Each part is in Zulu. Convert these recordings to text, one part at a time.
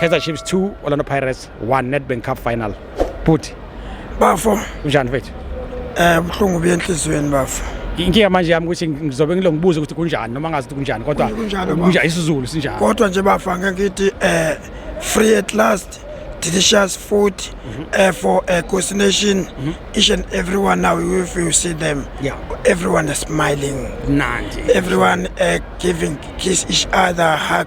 Kaizer Chiefs 2 Orlando Pirates 1 Nedbank Cup final bhuti bafo unjani mfethu eh buhlungu buye enhliziyweni bafo inkinga manje yami ukuthi ngizobe ngilo ngibuze ukuthi kunjani noma ngazi ukuthi kunjani kodwa kunjani isizulu sinjani kodwa nje bafa ngeke ngithi eh free at last delicious food mm -hmm. uh, for uh, Coast Nation. Mm -hmm. Each and everyone now, if you see them, yeah. everyone is smiling. Nandi. Everyone uh, giving kiss each other, hug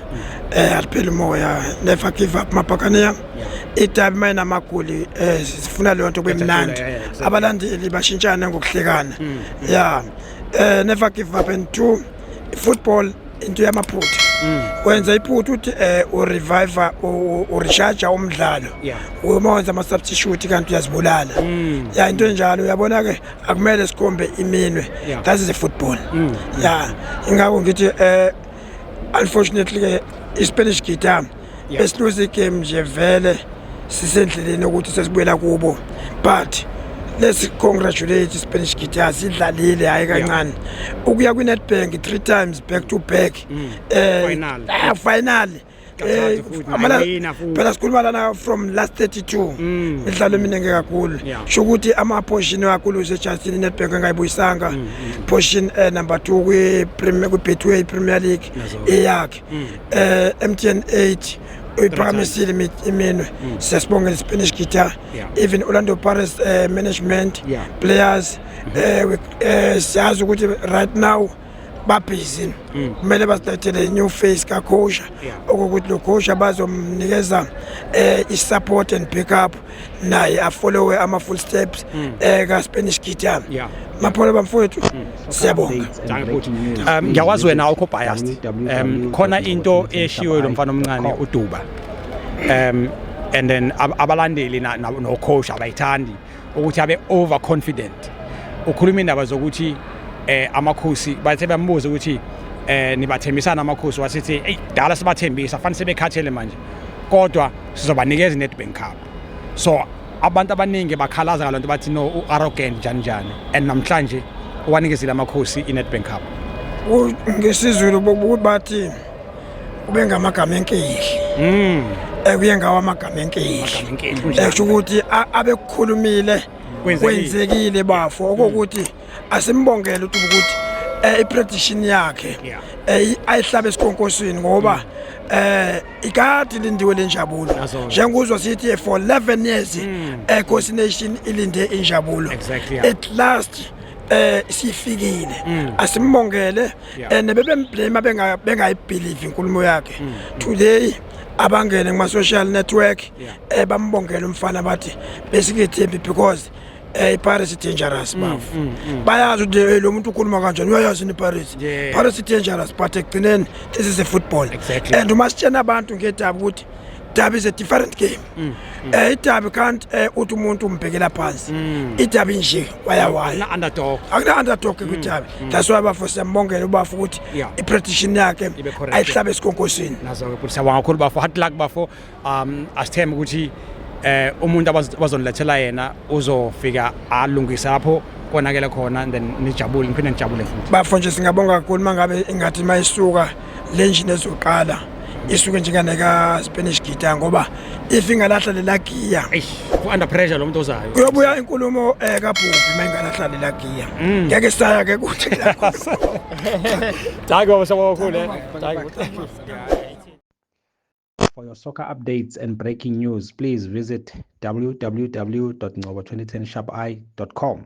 Eh alipheli umoya never give up mabhakaniya. Idabi mayina magoli eh sifuna leyo nto kubemnandi. Abalandeli bashintshana ngokuhlekana. Mm. Yeah. Eh never give up and two football into yamaphutha. Mm. wenza iphutha uthi eh urevive urecharge umdlalo uma wenza ama substitute kanti uyazibulala mm. ya into enjalo uyabona ke akumele sikhombe iminwe that's the football mm. ya ingakho ngithi eh unfortunately ke ispanish guitar yeah. esiluze igame nje vele sisendleleni ukuthi sesibuyela kubo but let's congratulate spanish guitar sidlalile hayi kancane ukuya kwinetbank three times back to back mm. eh, ah, finally Eh, phela sikhuluma lana from last 32 mm. midlalo eminingi kakhulu sho ukuthi amaphoshin kakhulu sechasini inetbank engayibuyisanga mm, mm. phoshin eh, number two kwi-betway premier league eyakhe um eh, mtn 8 uyiphakamisile iminwe mm. siyasibongela ispanish guitar even orlando paris uh, management yeah. players mm -hmm. uh, uh, siyazi ukuthi right now babhizi mm. kumele basilethele new face kakhosha okokuthi lo khosha bazomnikeza um eh, i-support and pick up naye afollowe ama-full steps mm. eh, kaspanish guitar mapholo bamfowethu mm. siyabonga um, ngiyakwazi wena awukho biased um khona into eshiwe lo mfana omncane uduba um and then abalandeli nokhosha abayithandi ukuthi abe overconfident ukhuluma indaba zokuthi eh amakhosi bathe bambuza ukuthi eh nibathembisana amakhosi wasithi hey dala sibathembisa fanele sebekhathele manje kodwa sizobanikeza iNetbank Cup so abantu abaningi bakhalaza ngalonto bathi no uarrogant njani njani and namhlanje wanikezile amakhosi iNetbank Cup ngesizulu bokuthi bathi ubengamagama enkehli mm. ekuye ngawo amagama enkehli esho ukuthi abekukhulumile kwenzekile bafo mm. okokuthi asimbongele ukuthi ukuthi eh, iprediction yakhe eh, ayihlabe esikhonkosini ngoba mm. eh ikati lindiwe lenjabulo njengozwa sithi for 11 years mm. eh Coast Nation ilinde injabulo at last eh sifikile asimbongele and bebemblame bengayibhilivi inkulumo yakhe mm. today abangene kuma-social network um bambongele umfana bathi besikethembi because eh iParis dangerous mm, bafu mm, mm. bayazi ukuthi eh, lo muntu ukhuluma kanjani uyayazi ni Paris Paris dangerous but ekugcineni this is a football and uma sitshena abantu ngedaba ukuthi Derby is a different game. Mm. mm. Eh idabi can't eh uthi umuntu umbhekela phansi. Mm. Idabi nje wayawaya. Na underdog. Akuna underdog mm. kwidabi. Mm. That's why bafo siyambongela ubafu ukuthi i prediction yakhe ayihlabe esikonkosini. Nazo ke ukuthi siyabonga kakhulu bafo. Hard luck bafo. Um asithembe ukuthi eh umuntu abazonilethela yena uzofika alungise lapho konakele khona and then nijabule ngiphinde ngijabule futhi. Bafo nje singabonga kakhulu mangabe ingathi mayisuka le njini ezoqala isuke njenganeka Spanish guitar ngoba if ingalahla lela giya under pressure lomuntu ozayo uyobuya inkulumo eh kabhubhi mayingalahla lela giya mm. ngeke saya ke kuthi la Hayi baba sabo kakhulu eh Hayi For your soccer updates and breaking news, please visit www.ngobo2010sharpi.com.